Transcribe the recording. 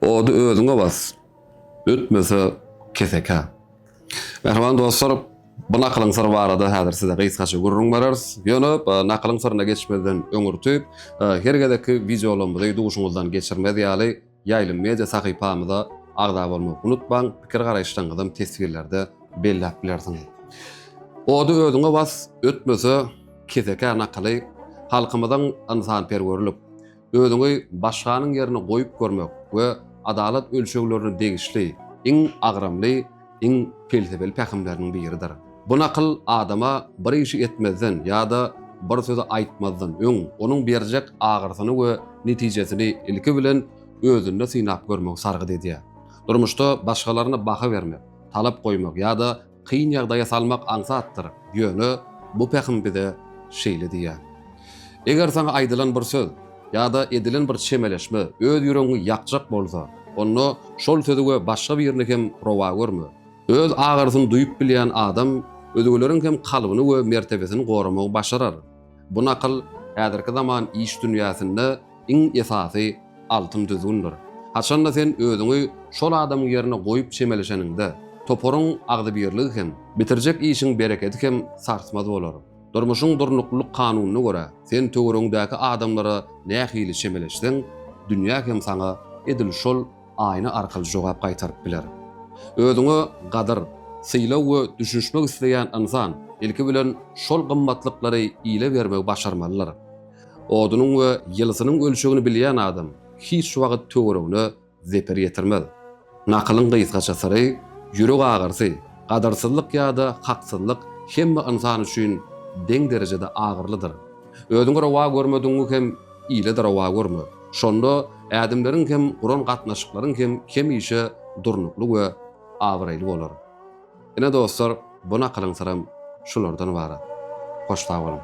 Ody özüňe bas, ötmese kesekä. Mähriban dostlar, bu nakylyň syry barada häzir size gysgaça gürrüň berers. Ýöne nakylyň syryna geçmezden öňürti, her gezekki wideolarymyzy duşuňyzdan geçirmez ýaly, Ýaýlym Media sahypamyza agza bolmagy unutmaň, pikir-garaýyşlaryňyzam teswirlerde belläp bilersiňiz. Ody özüňe bas, ötmese kesekä nakyly halkymyzyň ynsanperwerlik, Özüňi başganyň ýerine goýup görmek we adalat ölçeglerine degişli iň agramly, iň pelsepeli pähimleriniň biridir. Bu nakyl adama bir işi etmezden ýa-da bir sözi aýtmazdan öň onuň berjek agyrysyny we netijesini ilki bilen özünde synap görmegi sargyt edýär. Durmuşda başgalaryna baha bermek, talap goýmak ýa-da Kyn ýagdaýa salmak aňsatdyr, ýöne bu pähim bize şeýle diýýär. Eger saňa aýdylan bir söz ýa-da edilen bir çemeleşme öz ýüregiňi ýakjak bolsa, onda şol sözi we başga birini hem rowa görme. Öz agyrysyny duýup bilýän adam özgeleriň hem kalbyny we mertebesini goramagy başarar. Bu nakyl häzirki zaman iş dünýäsinde iň esasy altyn düzgündir. Haçanda sen özüňi şol adamyň ýerine goýup çemeleşeniňde, toparyň agzybirligi hem, bitirjek işiň berekedi hem sarsmaz bolar. Durmuşyň durnuklylyk kanunyna görä, sen töweregiňdäki adamlara nähili çemeleşseň, dünýä hem saňa edil şol aýna arkaly jogap gaýtaryp biler. Özüňe gadyr, sylag we düşünişmek isleýän ynsan, ilki bilen, şol gymmatlyklary ile bermegi başarmalydyr. Odunyň we ýylysynyň ölçegini bilýän adam hiç wagt töweregine zeper ýetirmez. Nakylyň gysgaça syry, Ýürek agyrysy, gadyrsyzlyk ýa-da haksyzlyk hemme ynsan üçin deň derejede agyrlydyr. Özüňi rowa görmedigiňi hem ile-de rowa görme. Şonda ädimleriň hem, guran gatnaşyklaryň hem hemişe durnukly we abraýly bolar. Ine, dostlar, bu nakylyň syram şulardan ybarat. Hoş sag boluň!